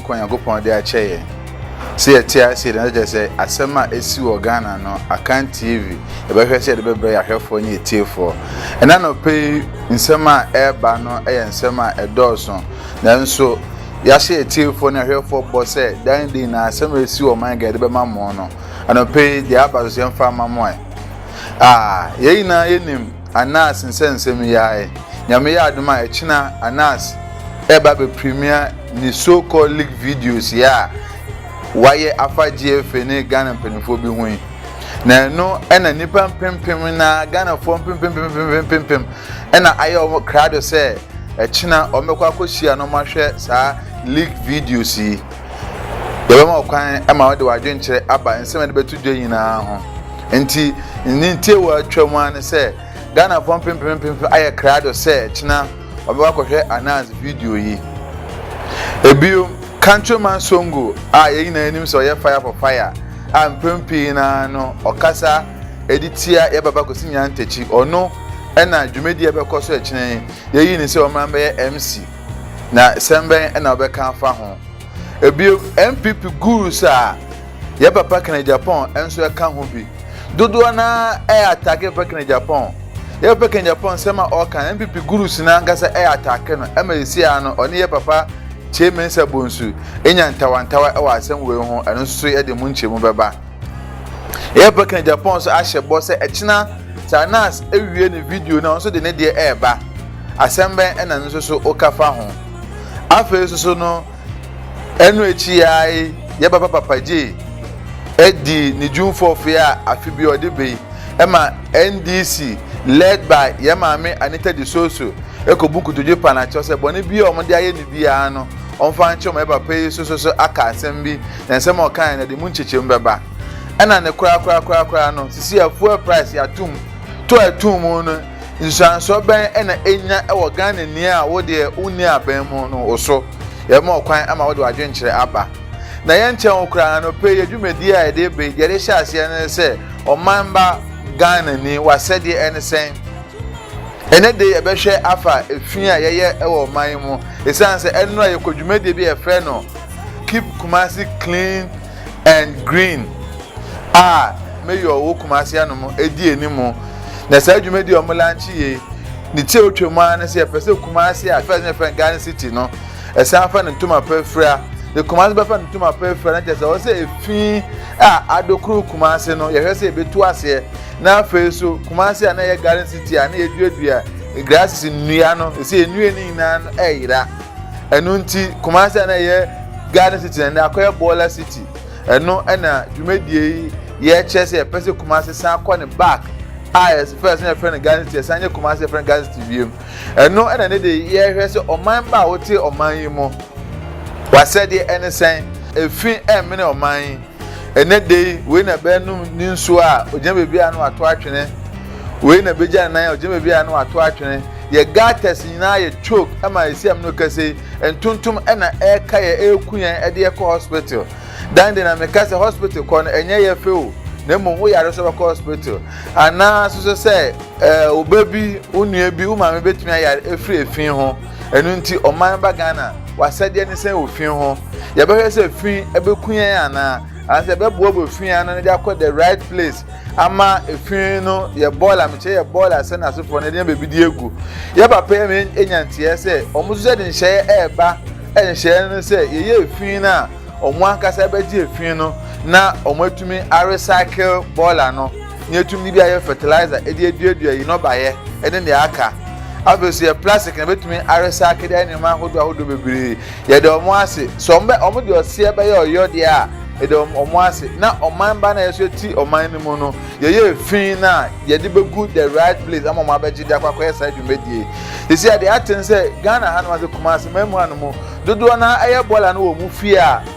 Kɔ Nyankopɔn de akyɛ yɛn. Sɛ yɛte ase na kyerɛ sɛ asɛm a asi wɔ Ghana no, Akan TV, yɛbɛhwɛ sɛ yɛde bɛbrɛ yɛn ahwɛfoɔ ne atiefoɔ. Ɛnɛ anɔpa yi nsɛm a ɛreba no yɛ nsɛm a ɛdɔɔso, nanso yɛahyɛ yɛn atiefoɔ ne ahwɛfoɔ bɔ sɛ dan din na asɛm a ɛsi wɔ ɔman Ghana yɛde bɛma mo no. Anɔpa yi deɛ aba so sɛ yɛmfa ma mo ɛ. Ah, yɛn nyinaa yɛnim. Anas nsɛnsɛm yi ara ɛ. Nyame yɛ adom a ɛkyena Anas ɛba bɛ premiere ne so called leaked videos yi a wayɛ afa GFA ne Ghana mpaninfoɔ bi ho yi. Na ɛno ɛna nnipa mpempem na Ghanafoɔ mpempempempempempem ɛna ayɛ wɔn krado sɛ ɛkyena wɔn bɛkɔ akɔhyia na wɔn ahwɛ saa leaked videos yi. Yɛbɛma wo kwan ma wode w'adwenkyerɛ aba nsɛm a yɛde bɛto dwa nyinaa ho. Nti, ne ntiawa a atwa mu ara ne sɛ, Ghanafoɔ mpempem mpempem ayɛ krado sɛ kyena wɔbɛkɔ akɔhwɛ Anaz video yi. Ebio, Countryman Songo a yɛn nyinaa nim sɛ ɔyɛ Fire for Fire a mpɛn pii no ara no ɔkasa de tia yɛn Papa Kwesi Nyantakyi, ɔno na dwumadie a ɛbɛkɔ so kyena yi, yɛayi no sɛ ɔmmra mmɛyɛ MC. na sɛm bɛn na wobɛka afa ho? Ebio, NPP gurus a yɛ papa Kenneth Agyapong nso ka ho bi. Dodoɔ no ara yɛ atake yɛ papa Kenneth Agyapong. Yɛ papa Kenneth Agyapong nsɛm a ɔka no, NPP gurus no ankasa yɛ atake no ma ɛsi ara no ɔne yɛ papa Kyei Mensah Bonsu nya ntawantawa wɔ asɛm wei ho, ɛno nso so yɛde mu nkyɛmu bɛba. Yɛ papa Kenneth Agyapong nso ahyɛ bɔ sɛ ɛkyena Sarnas awie ne video no a ɔno nso de ne deɛ ɛreba. Asɛm bɛn na ɛno nso so woka fa ho? Afei nso so no, ɛno akyi yi ara yi, yɛbɛba Papa Gyei adi ne June 4th yi a afe bi a ɔde ba yi ma NDC led by yɛn maame Anita De Soso ɛkɔbu nkotodwe pa no akyɛw sɛ bɔne bi a wɔde ayɛ no biara no ɔmfa nkyɛw ma yɛ papa yi so so so aka asɛm bi na nsɛm a ɔkaeɛ no ɛde mu nkyekyem bɛba ɛna ne korakorakorakoraa no sisi afuel price yɛatom to atom no Nsuansoɔ bɛn na ɛnya wɔ Ghanani a wo deɛ wonni aban mu no wo so? Yɛbɛma wo kwan ama wode w'adwenkyerɛ aba. Na yɛnkyɛ wo koraa, anɔpa yi yɛ dwumadie a yɛde reba yi, deɛ yɛde hyɛ aseɛ no ne sɛ, Ɔmanba Ghanani, w'asɛdeɛ ne sɛn? Ɛnɛ de yɛbɛhwɛ afa efi a yɛyɛ wɔ ɔman yi mu, ɛsiane sɛ ɛnnora yɛkɔ dwumadie bi a yɛfrɛ no Keep Kumasi Clean and Green a Mayor wɔ Kumasi anom di anim na saa dwumadi a wɔn lanche yei ne ti a otwa mu ara ne sɛ yɛpɛ sɛ Kumasi a fɛs ne fɛn Ghana City no ɛsan fa ne ntoma pa afira de Kumasi bɛfa ne ntoma pa afira na kyerɛ sɛ ɔwɔ sɛ efi a adokoro Kumasi no yɛhwɛ sɛ ebetu aseɛ na afei so Kumasi a na yɛ Ghana City a na yɛduadua grasses nnua no ɛsɛ nnua no nyinaa no ɛyera. Ɛno nti, Kumasi a na ɛyɛ Garden City na ɛnɛ akɔyɛ Bɔɔla City. Ɛno na dwumadie yi yɛkyerɛ sɛ yɛpɛ sɛ Kumasi san kɔ ne back a yɛpɛ sɛ yɛfrɛ no Garden City, yɛsan nyɛ Kumasi yɛfrɛ no Garden City wiem. Ɛno na ne de yɛhwɛ sɛ ɔman ba a wote ɔman yi mu, wasɛdeɛ ɛne sɛn, efi ɛmmene ɔman yi. Ɛnɛ da yi, wei na bɛnom ne nsuo a, ɔgyina baabi a na wato atwene. Wei na bɛgya ne nan a, ɔgyina baabi a na wato atwene. Yɛ garters nyinaa yɛ choke ma yɛ siam no kɛse ntontom na ɛka yɛ ɛku yɛn ɛde yɛ kɔ hospital dan de na me ka sɛ hospital kɔ no ɛnyɛ yɛ fɛ o na mmom wo yare so bɛkɔ hospital anaa soso sɛ ɛɛ wo ba bi wo nua bi wo maame betumi ayare efiri efi ho ɛnu nti ɔman ba Ghana wasɛdeɛ ne sɛn wɔ fi ho yɛbɛhwɛ sɛ fi ɛbɛku yɛn anaa Anaasɛ yɛbɛboaboa fi ano no de akɔ the right place ama efi no yɛ bɔɔl a mekyerɛ yɛ bɔɔl a sɛ n'asefoɔ no de nya baabi de agu yɛ papa yɛ me anya nteɛ sɛ wɔn nso sɛ de nhyɛeɛ ɛreba nhyɛeɛ no sɛ yɛyɛ efi no a wɔn ankasa bɛgye efi no na wɔn atumi arecycle bɔɔla no. Nea etumi de ayɛ fertilizer de aduadua yi nnɔbaeɛ ne nea aka. Afei nso yɛ plastic na ebetumi arecycle ayɛ nneɛma ahodoɔ ahodoɔ bebree. Yɛda wɔn ase. Sɛ wɔn bɛ wɔn de ɔseɛ bɛyɛ ɔyɔdeɛ a, yɛda wɔn wɔn ase. Na ɔman ba na yɛ nso yɛte ɔman no mu no, yɛyɛ efi na yɛde bɛgu the right place ama wɔn abɛgye de akɔ akɔyɛ saa dwumadie yi. Sisi a deɛ ate ne sɛ Ghana hanom ase Kumasi man mu hanom dodoɔ no ara yɛ bɔɔla no wɔ wɔn fie a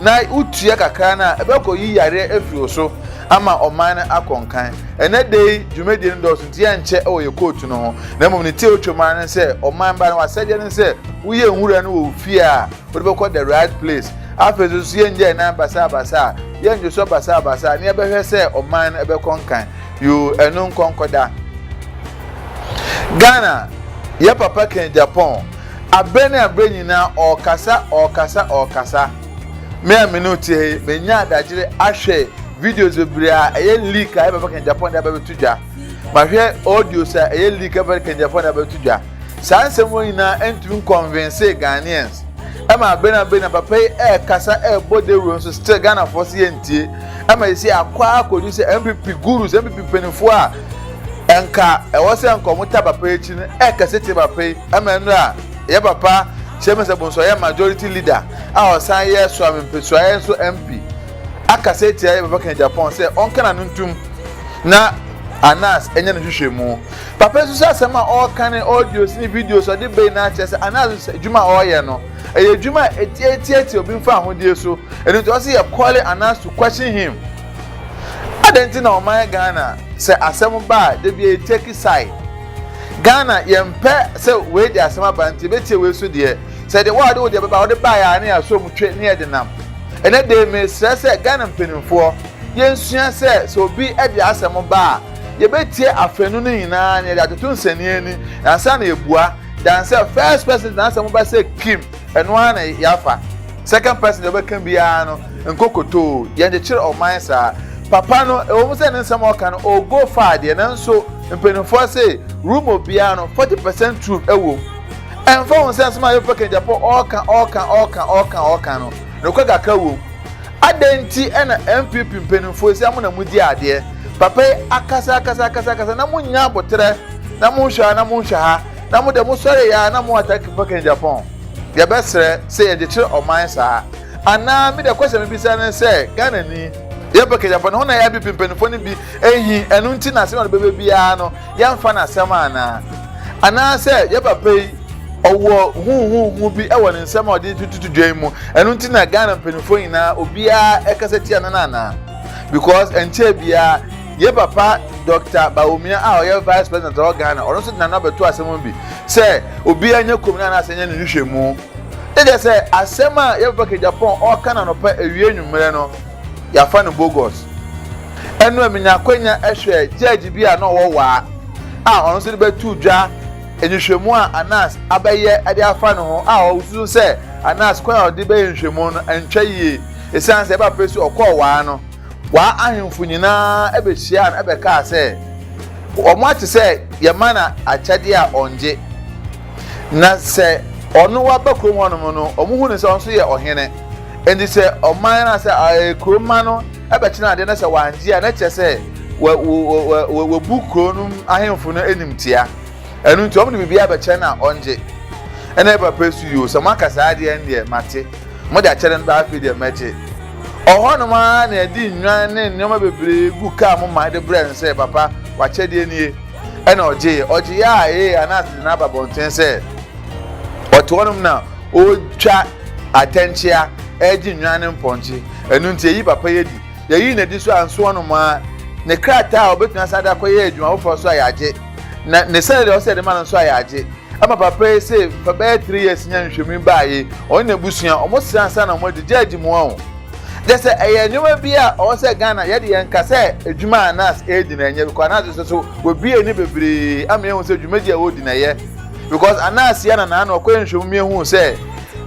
na wotua kakra no a, ɛbɛkɔyi yareɛ afiri wo so ama ɔman no akɔ nkan. Ɛnnɛ da yi dwumadie no dɔɔso nti yɛnkyɛ wɔ yɛ kootu no ho, na mmom ne tie otwam ara ne sɛ ɔman ba no w'asɛdeɛ ne sɛ woyɛ nwura no wɔ wo fie a wode bɛkɔ the right place. Afei nso nso yɛnnyɛ ɛnan basaabasaa, yɛnndwosɔ basaabasaa na yɛbɛhwɛ sɛ ɔman no ɛbɛkɔ nkan. Yoo, ɛno nkɔnkɔda. Ghana, yɛ papa ken Japan. Aberɛ ne aberɛ nyinaa ɔɔkasa ɔɔkasa ɔɔkasa. Me a me ne wo te ha yi, manya adagyere ahwɛ videos bebree a ɛyɛ leak a ɛbɛba kan Japan de aba bɛto dwa. Mahwɛ audios a ɛyɛ leak a ɛbɛba kan Japan de aba bɛto dwa. Saa nsɛm wɔ nyinaa ɛntumi nkɔnvensee Ghanaians. Ɛma aberɛ ne aberɛ nyinaa papa yi ɛɛkasa ɛɛbɔ dawuro nso still Ghanafoɔ se yɛntie. Ɛma sɛsei akɔ ara akɔdu sɛ MPP gurus, MPP mpaninfoɔ a nka ɛwɔ sɛ nka ɔmo ta papa akyi no ɛkɛse te papa yi ɛma nnura a yɛ papa Shyɛmɛsɛ Bonso yɛ majority leader a ɔsan yɛ Suame Mpesuaɛ nso MP akasa atia yɛ papa Kennedy-Aponn sɛ ɔnka n'ano ntum na Anas ɛnyɛ ne hwehwɛ mu papa nso sɛ asɛm a ɔɔka ne audios ne videos ɔde bɛyi na akyerɛ sɛ Anas nso sɛ adwuma a ɔɔyɛ no ɛyɛ adwuma a ɛtiatiatia obi mfa ahodeɛ so ɛno nti ɔse yɛ calling Anas to question him Adɛn nti na ɔman Ghana sɛ asɛm ba a da biara take side? Ghana yɛmpɛ sɛ wei de asɛm aba nti yɛbɛtie wei so deɛ. Sɛ deɛ woa wode wo deɛ bɛba wode baeɛ a na yɛasɔ mu twe ne yɛde nam. Ɛnɛ dee mesrɛ sɛ Ghana mpanimfoɔ yɛnsua sɛ sɛ obi de asɛm ba a yɛbɛtie afanu no nyinaa na yɛde atoto nsɛnniiɛ ani ansa na yɛbua than sɛ first person de n'asɛm ba sɛ Kim Ɛno ara na yɛafa. Second person deɛ ɔbɛka biara no, nkokotoo, yɛnkyekyere ɔman saa. Papa no, ɛwɔ mu sɛ ne nsɛm a ɔka no, ɔgo faa deɛ, nanso mpanimfoɔ se, rumour biara no, forty percent truth wɔ mu. Ɛmfa ho sɛ nsɛm a Yofa Kentyapo ɔreka, ɔreka, ɔreka, ɔreka, ɔreka no, nokorɛ kakra wɔ mu. Adɛn nti na NPP mpanimfoɔ seesei mo na mogye adeɛ? Papa yi akasa, akasa, akasa, akasa, na monnya aboterɛ, na monhwɛ ha, na monhwɛ ha. na mo de mo sɔre ya na mo attack fucking Japan yɛ bɛ srɛ sɛ yɛ gyekyerɛ ɔman saa anaa mi de kwɛsɛ mi bisa ne sɛ Ghana ni yɛ bɛ kɛgya fɔ ne ho na yɛ bipi mpanyinfoɔ ne bi ehi ɛnu nti na asɛm na ɔde bɛbɛ biara no yɛ nfa na asɛm anaa anaa sɛ yɛ papa yi ɔwɔ huhuhu bi ɛwɔ ne nsɛm a ɔde tututu dwan mu ɛnu nti na Ghana mpanyinfoɔ nyinaa obiara ɛkasa tia no no anaa because ɛnkyɛn biara. Yɛn papa Dɔkta Bawumia a ɔyɛ Vice President a ɔwɔ Ghana, ɔno nso de n'ano abɛto asɛm ho bi sɛ obiara nyɛ komm no anaasɛ ɛnyɛ ne nhwehwɛmu. Ne deɛ sɛ asɛm a yɛn papa Kejapong ɔreka no anɔpa awia anwummerɛ no, yɛafa no bogus. Ɛno a menya akwanya hwɛɛ judge bi a na ɔwɔ waa a ɔno nso de bɛtoo dwa nhwehwɛmu a Anas abɛyɛ de afa ne ho a ɔsusu sɛ Anas kwan a ɔde bɛyɛ nhwehwɛmu no antwa yie esiane sɛ ɛba pɛ si ɔkɔɔ waa no Wɔn ahemfo nyinaa behyiaa no bɛkaa sɛ, Wɔate sɛ yɛma no akyɛde a ɔngye, na sɛ ɔno waba kurom hɔnom no, wɔhu no sɛ ɔno nso yɛ ɔhene. Enti sɛ ɔman no anaasɛ kurom mma no bɛkyena ade na sɛ wɔangye a, na ɛkyerɛ sɛ wɔabu kurow no ahemfo no animtia. ɛno nti ɔmo de biribi abɛkyɛ no a ɔngye ɛna yɛ papa su yoo sɛ mo aka saa adeɛ ndeɛ mate mo de akyɛ no no afei deɛ mɛgye ɔhɔ nom ara na ɛde nnwan ne nneɛma bebree gu kaa mo ma de brɛ no sɛ papa wakyɛdeɛ nie ɛna ɔgye yɛ ɔgye yɛ a ee anaase de n'aba bɔnten sɛ ɔte hɔ nom na ɔtwa atɛnkyea ɛgye nnwan ne mpɔnkye ɛno nti ɛyi papa yɛ di yɛyi na di so anso hɔ nom ara ne krataa a ɔbɛtumi asa de akɔyɛ adwuma foforɔ so a yɛagye na ne salary a ɔsɛ yɛde ma no nso a yɛagye ama papa yi sɛ fa bɛyɛ three years nya nhwehwɛmu yi baayɛ ɔne n'abusua ɔmo srɛ ansa na ɔmo agye gye agye mu ɔn kyɛ sɛ ɛyɛ nneɛma bi a ɔwɔ sɛ Ghana yɛde yɛn ka sɛ adwuma a nas ɛredi na ɛnyɛ because nas nso so wɔbie ani bebree ama yɛhu sɛ dwumadie a wɔredi na ɛyɛ because anas yɛ na naa na ɔkɔyɛ nhwɛmu mi ehu sɛ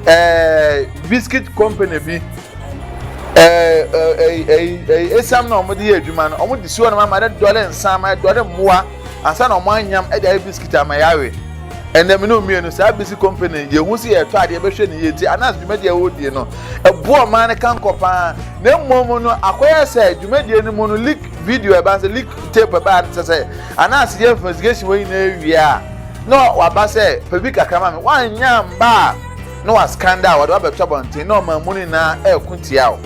ɛɛ biscuit company bi esiam na wɔde yɛ adwuma no wɔde si hɔ nom ama no dɔre nsa ama dɔre mmoa ansa na wɔn anyam de ayɛ bisikit ama yɛawe ɛnna mene mmienu saa bisi company yɛhu si yɛtɔ adeɛ bɛhwɛ ne yie ti anas dwumadie a wɔdie no ɛboɔ ɔman no kankɔ paa na mmom no akɔyɛ sɛ dwumadie no mu no leak video ɛba sɛ leak tape ɛba sɛ sɛ anas yɛ investigation wɔ nyinaa wie a na waba sɛ pɛ bi kakra ma me woanyɛ mba a na wɔascan dɛ a, wɔde wo abɛto abɔnten na ɔman mu no nyinaa reko tia wo.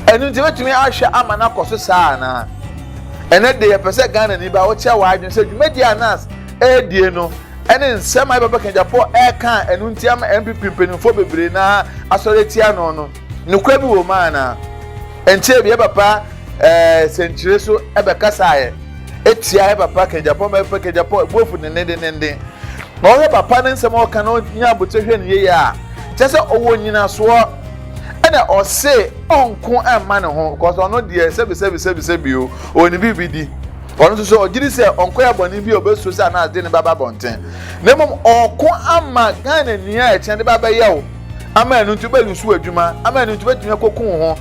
Ɛno nti, ebetumi ahwɛ ama no akɔ so saa anaa? Ɛnnɛ de, yɛpɛ sɛ Ghanani ba wokyerɛ w'adwene sɛ dwumadi a NAS redie no ne nsɛm a yɛn babakanyagyafoɔ reka a ɛno nti ama NPP mpanimfoɔ bebree no ara asɔre atia no no, Nokorɛ bi wɔ mu anaa? Ɛnkyɛɛ biara papa sɛnkyerɛ so bɛkasaeɛ ɛtia yɛ papa Kajapɔ mɛfɛ Kajapɔ ɛbuofu dendendenenden na ɔhwɛ papa ne nsɛm a ɔka na ɔnya abotire hwɛ no yie a kyɛ sɛ ɔwɔ nyinasoɔ ɛna ɔse ɔnko ɛmma ne ho kɔsɛ ɔno deɛ sɛbisɛbisɛbisɛbio ɔwɔ ne biribi di ɔno nso sɛ ɔgyiri sɛ ɔnkɔyɛ bɔne bi a ɔbɛsuo sɛ anaa de ne baba bɔnten na mmom ɔko ama Ghana ni a ɛkyɛn de ba bɛyɛ wo ama ɛno nti wobɛlusu w'adwuma ama ɛno nti wobɛtumi akɔku wo ho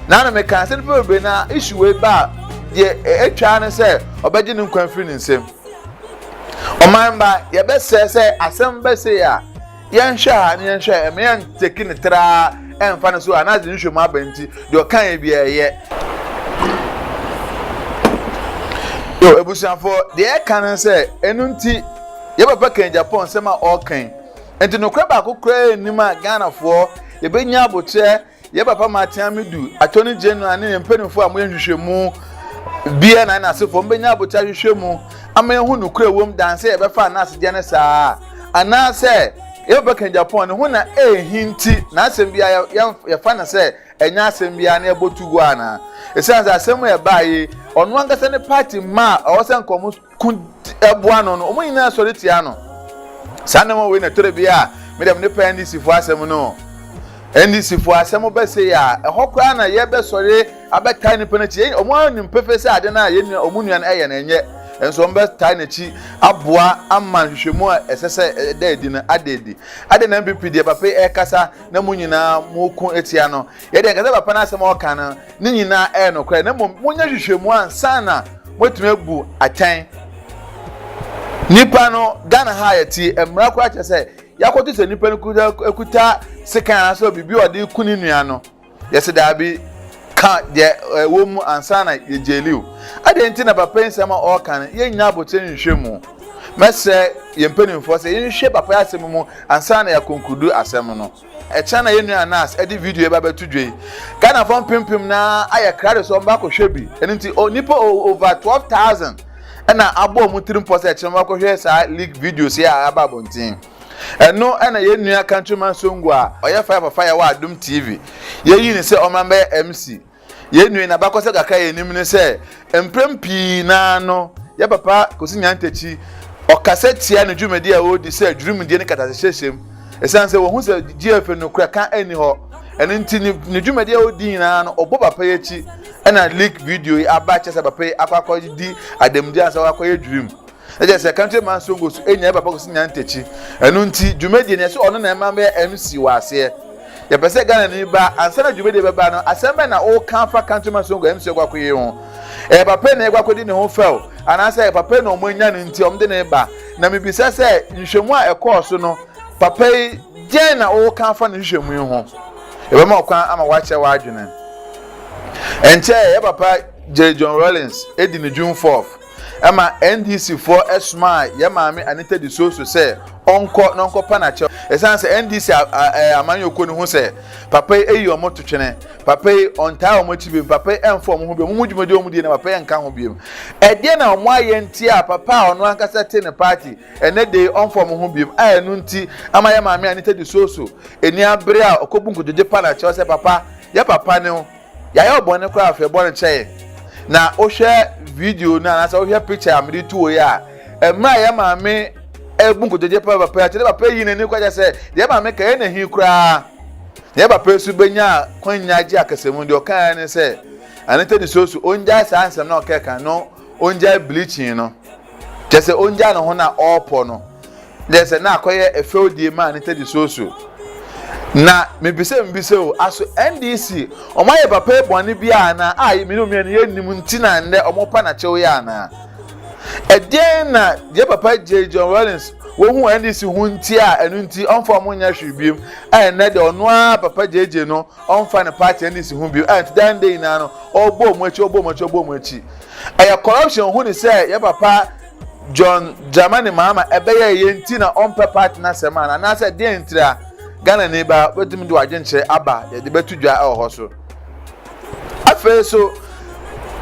na na meka sɛ nipa bebree na issue wei ba a deɛ atwa ne sɛ ɔbɛgye ne nkwa mfiri ne nsam ɔman ba yɛbɛsɛ sɛ asɛm bɛsɛ a yɛnhwɛ ha ne yɛnhwɛ ɛmɛ yɛnteki ne traa ɛmfa no so a na adze nhwɛ mu aba nti deɛ ɔka yɛ bi ɛyɛ yo abusuafoɔ deɛ ɛka ne sɛ ɛno nti yɛ papa kan japan nsɛm a ɔɔkan Nti nokorɛ baako koraa nnim a Ghanafoɔ yɛbɛnya aboterɛ yɛ papa Matea Medu, Attorney General ne yɛn mpanimfoɔ a moyɛ nhwehwɛmu deɛ na yɛn asefoɔ mbɛnya aboterɛ ahwehwɛ mu ama yɛhu nokorɛ wom dan sɛ yɛbɛfa anaasedeɛ no saa anaasɛ yɛbɛka Japan ne ho na ɛhi nti na asɛm biara yɛfa no sɛ ɛnyɛ asɛm biara na yɛbɔ tu hɔ anaa ɛsiane sɛ asɛm a ɛbaa yi ɔno ankasa ne party ma a ɔwɔ sɛ nkɔmɔ ko boa no no, wɔn nyinaa sɔre tia no. Saa nneɛma wei na ɛtɔrɔ bi a medɛm ne pɛ NDC fo asɛm no. NDC fo asɛm bɛsɛ yi a, ɛhɔ koraa na yɛbɛsɔre abɛtaa nipa n'akyi. Wɔn ara nim pefee sɛ ade no a yɛn wɔn nua no ɛyɛ no ɛnyɛ, nso wɔn bɛtaa n'akyi aboa ama nhwehwɛmu a ɛsɛ sɛ ɛda adi no ada adi. Ade na NPP deɛ papa yi ɛkasa na mo nyinaa mo ko tia no. Yɛ deɛ nkasɛ papa no asɛm a ɔka no ne nyinaa ɛyɛ nokorɛ na mmom monyɛ hwehwɛmu ansa na moatumi abu atɛn nipa no ghana ha yɛte mmara koraa kyerɛ sɛ yɛakɔto sɛ nipa no kuta sekan anaasɛ biribi a ɔde ku ne nua no yɛsɛ daabi ka deɛ ɛwɔ mu ansa na yɛgyeli o adeɛ nti na papa yi nsɛm a ɔreka no yɛnya abotire nhwɛ mu mɛsɛ yɛn mpanimfoɔ sɛ yɛnhwɛ papa yi asɛm mu ansa na yɛakonkudu asɛm no Ɛkyena na yɛn nua Nas ɛde video yi ba bɛto dwa yi. Ghanafoɔ mpempem na ayɛ krado sɛ wɔba akɔhwɛ bi. Ɛno nti onipa over twelve thousand ɛna abɔ wɔn tiri mpɔ sɛ ɛkyena wɔn akɔhwɛ saa leak videos yi a aba abɔnten. Ɛno ɛna yɛn nua Countryman Songo a ɔyɛ fire for fire wɔ Adum TV yɛyi ne sɛ ɔmra mbɛyɛ MC. Yɛn nua yi n'abakɔsɛ kakra yɛ nim ne sɛ mprɛm pii naa no yɛ papa Kosi Nyantakyi ɔkasa tia ne dwumadi a ɔredi sɛ adwurimdeɛ ne katasehyɛhyɛm ɛsiane sɛ wɔhu sɛ GFA no kura ka ɛnni hɔ ɛno nti ne, ne dwumadi a ɔredi nyinaa no ɔbɔ papa yi akyi ɛna leak video yi aba kyɛ sɛ papa yi akɔ akɔdi adamdi ansa wakɔyɛ adwurim na kyerɛ sɛ country man songo so nya papa kɔsi nya ntakyi ɛno nti dwumadie no ɛsɛ ɔno na ɛma bɛyɛ MC wɔ aseɛ yɛpɛ sɛ Ghana ni ba ansa na dwumadie bɛba no asɛm bɛn na ɔka fa country man songo MC kɔ akɔyɛ ho ɛyɛ papa na ɛkɔ akɔdi ne ho fɛw anaasɛ ɛyɛ papa na ɔmo anya no nti ɔmo de ne ba na mebisa sɛ nhwɛmu a ɛkɔɔ so no papa yi gyɛn na ɔka fa ne nhwɛmu yi ho ɛbɛma ɔkwan ama wakyɛ w'adwene ɛnkyɛ yɛ papa J. John Rawlings edi ne June 4th ɛma NDC foɔ ɛsomaa yɛn maame Anita Disoso sɛ ɔnkɔ na ɔnkɔpa n'akyɛw. Ɛsiane sɛ NDC amanyɔkuo no hu sɛ papa yi ayi wɔn to twene, papa yi ɔntaa wɔn akyi biom, papa yi ɛmfa wɔn ho biom, wɔn dwumadie a wɔdie no papa yi ɛnka ho biom. Ɛdeɛn na wɔn ayɛ nti a papa a ɔno ankasa te ne party ɛnɛ da yi ɔmfa wɔn ho biom a ɛno nti ama yɛn maame Anita Disoso ani abere a ɔkɔbu nkotodwe pa n'akyɛw sɛ papa, yɛ papa ne wo. Yɛayɛ wo bɔne koraa hwɛ bɔne kyɛ yɛn na wohwɛ video no anaasɛ wohwɛ picture a mede tuo yi a mmerɛ a yɛ maame ɛbu nkotodwe pɛ papa yɛte ne papa yi n'ani kwakyɛ sɛ yɛ maame ka yɛ na hi koraa na yɛ papa nso bɛnya kwanya gye akasamu deɛ ɔkaeɛ ne sɛ anita ne soso ɔngyae saa nsɛm na ɔkɛka no ɔngyae bleaching no kyɛ sɛ ɔngyae ne ho no a ɔrepɔ no deɛ sɛ na akɔyɛ ɛfɛwdie maa ne tɛdi soso na mebisɛ mebisɛ o aso ndc wɔn ayɛ papa yi bɔne bi a na a me ne omienu yɛ nim nti na ndɛ wɔn pa na kyɛw yɛ anaa ɛdeɛn na deɛ papa gye John Rawlings wohu ndc ho nti a ɛno nti ɔmfa wɔn nyɛ hwee biem a ɛnɛ deɛ ɔno ara papa gyegye no ɔmfa ne party nsi ho bio a nti daa ndɛ nyinaa no ɔbɔ ɔmo akyi ɔbɔ ɔmo akyi ɔbɔ ɔmo akyi ɛyɛ corruption hu ne sɛ yɛ papa John Dramani Mahama ɛbɛyɛ yɛ nti na ɔmpɛ party n'asɛm a anaasɛ deɛ ntira Ghana ni ba bɛtumi de wadwenkyerɛ aba yɛde bɛto dwa ɛwɔ hɔ so afei so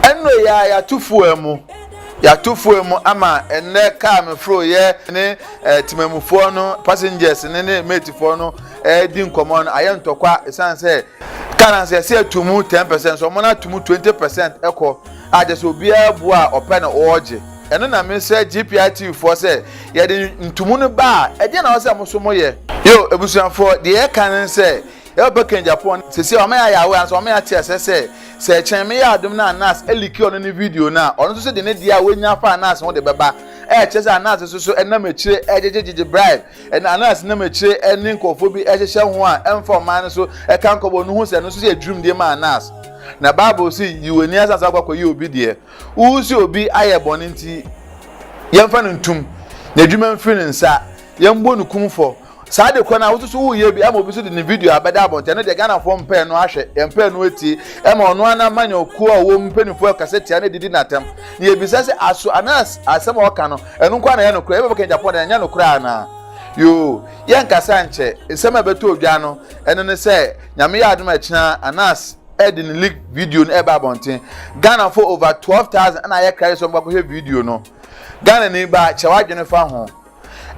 ɛnno yɛ a yɛato fuel mu yɛato fuel mu ama ɛnɛ kaa meforo yɛ ne eh, timamufoɔ no passengers ne ne matefoɔ no redi nkɔmmɔ no ayɛ ntɔkwa ɛsiane sɛ ka no sɛ ɛsɛ ato mu ten percent so ɔmo no ato mu twenty percent ɛkɔ a kyerɛ sɛ obiara bu a ɔpɛ na ɔregye ɛno na mesrɛ GPI TV foɔ sɛ yɛde ntomu no ba a ɛdeɛ na ɔsɛ mo so mo yɛ. Yo abusuafoɔ deɛ yɛka ne sɛ yɛbɛpɛ kɛn Japan sɛsi a ɔma yɛ ayɛ awɛ ansa ɔma yɛ ate asɛ sɛ sɛ ɛkyɛn me yɛ adom no a nurse ɛliki ɔno ne video no a ɔno nso so de ne deɛ a wanya afa a nurse ho de bɛba ɛkyɛ sɛ a nurse nso so ɛnam akyire ɛgyegyegyegye bribe Ɛnna Anas nam akyire ne nkurɔfoɔ bi hyehyɛ ho a ɛmfa ɔman no so ka nkɔbɔ no hu sɛ ɛno nso yɛ dwirimdie ma Anas. Na Bible se, Yi w'ani asan sɛ wokɔkɔyɛ obi deɛ. Wohu sɛ obi ayɛ bɔne nti, yɛmfa no ntom, n'adwuma mfiri ne nsa, yɛmmɔ no kumfɔ. Saa de korɔ no a woso so woyɛ bi ama obi so de ne video abɛda abɔnten, ɛno deɛ Ghanafoɔ mpɛɛ no ahwɛ, yɛmpɛɛ no atie. Ɛma ɔno ara n'amanyɔkuo a ɔwɔ mu mpanimfoɔ kasa tia no de di no atɛm. Na yɛbisa sɛ, aso Anas asɛm a ɔka no Ɛno nko ara na ɛyɛ nokorɛ. Yɛbɛbɔ ka Japan deɛ, ɛnyɛ nokorɛ anaa? Yoo, yɛnka sɛ ankyɛ. Nsɛm a ɛbɛtɔ odwa no, ɛno ne sɛ, Nyame yɛ adom a akyina Anas de ne leak video no ɛreba abɔnten. Ghanafoɔ over 12,000 ɛna ayɛ cry sɛ wɔn bɛkɔhwɛ video no. Ghanani ba, kyɛ w'adwene fa ho.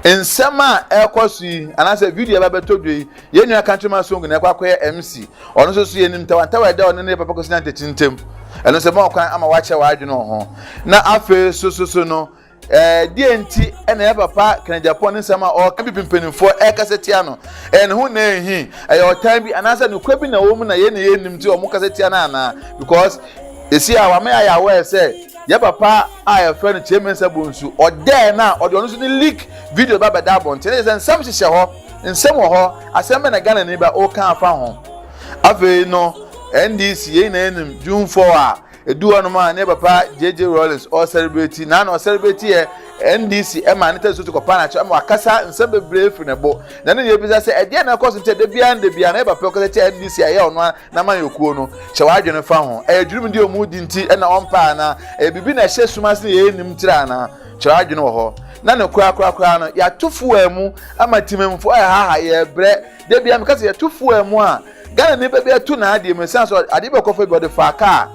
Nsɛm a ɛrekɔ so yi, anaasɛ video a ɛba abɛtɔ dwa yi, Yɛn nua Countryman Asongo na ɛkɔ akɔyɛ MC. Ɔno nso so yɛnim ntawantawa ɛda ɔno ne yɛn papa Kwasi Nantɛkyi ntam. Ɛno nso ɛma ɔkwan ama wakyerɛ w'adwene wɔ ho. Na afei nso so so no, eh, deɛ nti ɛna yɛn papa Ken Agyapong ne nsɛm a ɔreka bi mpanimfoɔ ɛrekasa tia no? Ɛyɛ ne ho na ɛnhi? Ɛyɛ ɔtan bi anaasɛ nokorɛ bi na ɛwɔ mu na yɛn na yɛnnim nti wɔn kasa tia no anaa? Because ɛsi a wama yɛayɛ aware sɛ yɛn papa a yɛfrɛ no Kyerɛ Mensah Bonsu, ɔdɛɛ no a ɔde ɔno nso ne leak video ba bɛda abɔnten. Ɛyɛ sɛ nsɛm hyehyɛ hɔ. Nsɛm wɔ hɔ, asɛm bɛn na Ghanani ba woka afa ho? Afei no NDC yɛn nyinaa nim June 4 a edu hɔ nom a ne papa JJ Rawlings ɔ celebrate na na ɔ celebrate yɛ NDC ɛma ne tɛnso to kɔpa na kyɛ ɛma wakasa nsɛm bebree firi ne bo na ne yɛbisa sɛ ɛdeɛ na ɛkɔ so nti ɛda biara nda biara na yɛ papa ɔkasa kyɛ NDC a ɛyɛ ɔno na ma yɛkuo no hyɛ w'adwene fa ho ɛyɛ dwurum deɛ ɔmu di nti ɛna ɔmpa ana ɛyɛ biribi na ɛhyɛ sum ase na yɛnim tira ana Kyerɛ adwene wɔ hɔ na ne korakora koraa no yɛato fuwa mu ama timamfo a ɛhaha yɛbrɛ da bia meka sɛ yɛto fuwa mu a Ghana ne bɛbi ato n'adeɛ mu ɛsiane sɛ adeɛ bɛkɔfa bi ɔde faa kaa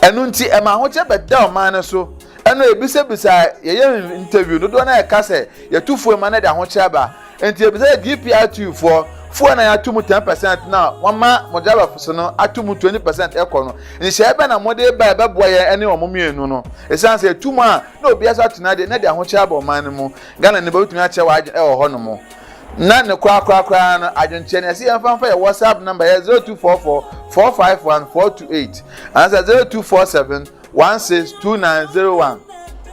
ɛno nti ɛma ahokyɛ bɛda ɔman no so ɛno ebisabisa yɛyɛ interview dodoɔ no a ɛka sɛ yɛto fuwa mu a na ɛde ahokyɛ aba Enti ebisa GPRTUfoɔ, foɔ a na yɛato mu ten percent na wɔama mogya abɛpo so no ato mu twenty percent kɔ no, nhyehyɛeɛ bɛn na mode reba a ɛbɛboa yɛn ne wɔn mmienu no? Esiane sɛ yɛatu mu a na obiara nso atena deɛ na ɛde ahokyerɛ aba ɔman no mu. Ghanani bɛbɛtumi akyerɛ w'adwene wɔ hɔnom. Na ne korakora koraa no, adwenkyerɛ no, yɛse yɛmfa mfa yɛn WhatsApp number, ɛyɛ zero two four four four five one four two eight anaasɛ zero two four seven one six two nine zero one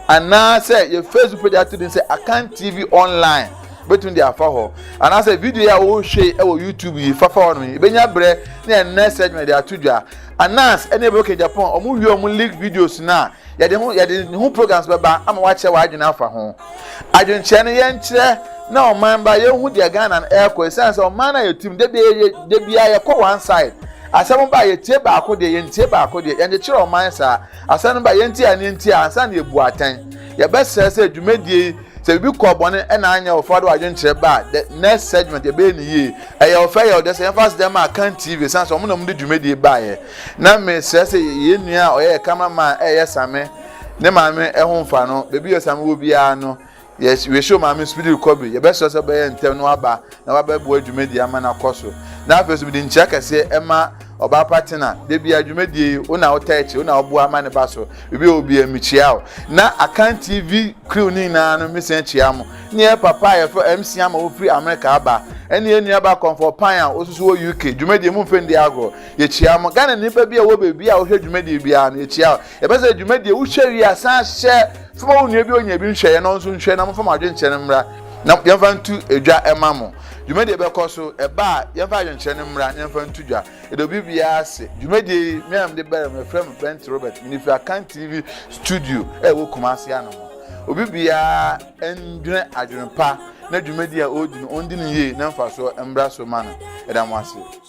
anaasɛ yɛ facebook page ato din sɛ akan tv online bɛtumi de afa hɔ anaasɛ video yi a wɔrehwɛ yi wɔ youtube yi fafa hɔ no yi bɛnya berɛ ne ɛnnɛ sɛ adwuma de ato dwa anas ɛne ɛbɛkɛ japan wɔn wie wɔn league videos no a yɛde ho yɛde ne ho programs bɛba ama wakyɛ w'adwene afa ho adwenkyerɛ no yɛnkyerɛ na ɔman ba yɛhu deɛ ghana no ɛrekɔ ɛsiane sɛ ɔman no a yɛtim da biara yɛkɔ one side Asɛm no ba a, yɛtie baako deɛ, yɛntie baako deɛ. Yɛnkyekyere ɔman saa. Asɛm no ba a, yɛntie a ne yɛntie a, ansa na yɛbu atɛn. Yɛbɛsrɛ sɛ dwumadie yi, sɛ biribi kɔɔ bɔne ɛna anyɛ ɔfɛ ɔde w'adwenkyerɛ ba a, the next segment yɛbɛyɛ ne yie. Ɛyɛ ɔfɛ, ɛyɛ ɔdɛ sɛ yɛmfa aseda ma Akan TV ɛsiane sɛ wɔn na wɔde dwumadie baeɛ. Na mesrɛ sɛ yɛn nua a ɔyɛ yɛ camera man ɛyɛ Same ne maame ɛho mfa no, baabi a Same wɔ biara no, Yes, we show maame speedy recovery. Yɛbɛsrɛ sɛ bɛyɛ ntɛm na waba na wabɛboa dwumadie ama no akɔ so. Na afei nso mede nkyia kɛseɛ ɛma ɔbaa pa tena. Da biara dwumadie yi wo na wota akyi, wo na woboa ama ne ba so. Biribi a obiara mekyia wo. Na Akan TV crew ne nyinaa no mesan kyia mo. Ne yɛ papa a yɛfrɛ MC ama wofiri Amerika aba. Ɛne yɛ nua ba kɔmfɔ pan a wososo wɔ UK. Dwumadie mu mfɛn di agorɔ. Yɛkyia mo. Ghana nipa bi a wɔ baabi a wohwɛ dwumadie biara no yɛkyia wo. Yɛpɛ sɛ dwumadi a wohwɛ wie a san hyɛ fa ma wo nua bi onya bi nhwɛeɛ na ɔnso nhwɛ na momfa mo adwenkyerɛ no mmra na yɛmfa nto dwa ɛma mo. Dwumadi ɛbɛkɔ so ɛba a yɛmfa adwenkyerɛ no mmra na yɛmfa nto dwa. Yɛda obi biara ase. Dwumadie yi me a mede bɛrɛ mu yɛfrɛ me Bent Robert mede firi Akan TV studio a ɛwɔ Kumasi ano mu. Obi biara ndwene adwene pa na dwumadi a ɔredi no ɔndi no yie na mfasoɔ mmra so ma no. Yɛda mo ase.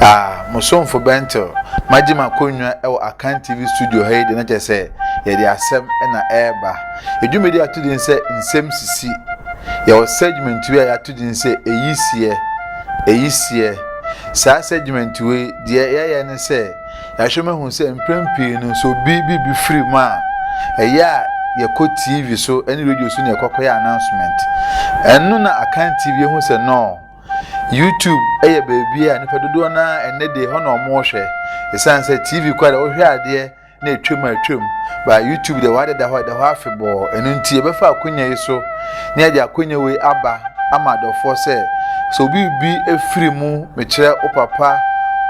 Ah, mo somfo Bentel, magye m'akonnwa wɔ Akan TV studio ha yi de na kyerɛ sɛ yɛde asɛm na ɛreba. Edwumadi ato din sɛ nsɛm sisi. Yɛwɔ segment wei a yɛato din sɛ eyi seɛ, eyi seɛ. Saa segment wei deɛ yɛyɛ ne sɛ Yɛahwɛ mu ahu sɛ mprɛn pii no sɛ obi biribi firi mu a, ɛyɛ a yɛkɔ TV so ne radio so na yɛkɔkɔyɛ announcement. Ɛno na Akan TV ehu sɛ nɔɔ YouTube yɛ baabi a nipa dodoɔ no ara ɛnɛ deɛ hɔ na wɔhwɛ. Ɛsiane sɛ TV kɔ deɛ wohwɛ adeɛ na atwam a atwam ba YouTube deɛ wɔadeda hɔ ɛda hɔ afebɔɔ. Ɛno nti yɛbɛfa akonya yi so na yɛde akonya wei aba ama adɔfoɔ sɛ sɛ obi bi firi mu Mekyerɛ wo papa,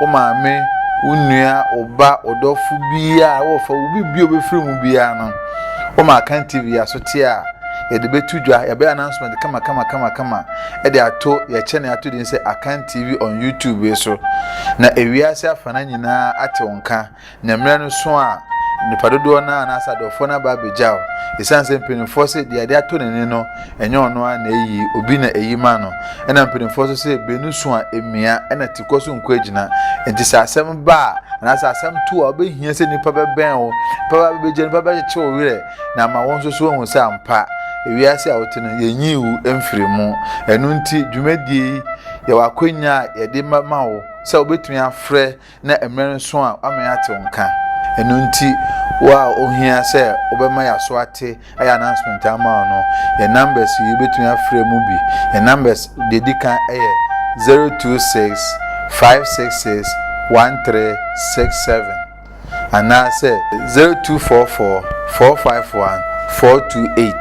wo maame, wo nua, wo ba, ɔdɔfo biara a wɔfa wo biribi a obefiri mu biara no, wɔma Akan TV asote a yɛde betu dwa, yɛbɛyɛ announcement kama kama kama kama de ato yɛkyɛ ne ato din sɛ Akan TV on YouTube so, na ewiase afanan nyinaa ate wo nka. Na mmerɛ no sõ a, nnipa dodoɔ no ara anaasɛ adɔfoɔ no aba abɛgya wo, ɛsiane sɛ mpanimfoɔ se deɛ ade ato n'ani no, ɛnyɛ ɔno ara na ɛyi, obi na ɛyi ma no. Ɛna mpanimfoɔ nso se beenu sõ a, ɛmia, ɛna tikɔ so nko agyina. Enti sɛ asɛm ba a, anaasɛ asɛm to a, wobɛhia sɛ nnipa bɛbɛn wo, nnipa bɛba bɛbɛgya, nnipa bɛkyekye wo werɛ, na ama wo nso so woahu sɛ ampa, ewiase a wote no, yɛnyii wo mfirii mu. Ɛno nti, dwumadie yi, yɛwɔ akwannya a yɛde ma wo sɛ wobɛtumi afrɛ na mmerɛ no so a wama yɛate wo nka, ɛno nti wo a ohia sɛ wobɛma yɛaso ate ayɛ announcement ama wo no, yɛn numbers yi wobɛtumi afrɛ mu bi, yɛn numbers deɛ ɛdi kan yɛ 026 566 1367 anaasɛ 0244 451 428.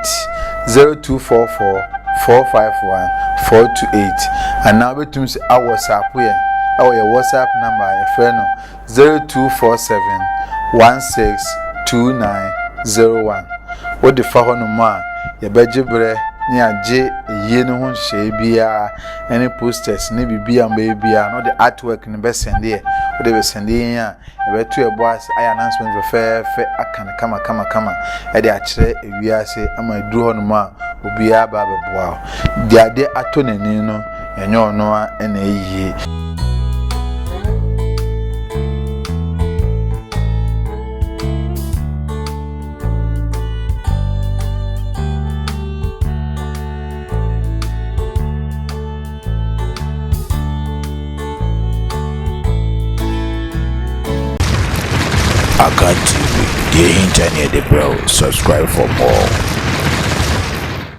Zero two four four four five one four two eight anaa wobɛtumi nso awɔsaapo yɛn ɛwɔ yɛn whatsapp number a yɛfrɛ no zero two four seven one six two nine zero one wode fa hɔnom a yɛbɛgye berɛ ne agye yie no ho nhyehyɛeɛ biara ɛne posters ne biribi a mbɛyɛ biara na ɔde artwork no bɛsɛndeɛ wode bɛsɛndeɛ yɛn a Yɛbɛto yɛn bo ase ayɛ announcement fɛfɛɛfɛ aka no kamakamakama de akyerɛ ewiase ama aduru hɔnom a obiara aba abɛboa wo. Deɛ ade atɔ n'ani no, ɛnyɛ ɔno ara na ayie. Akan TV, deɛ ɛhinta ne yɛde brɛ wo, subscribe for more.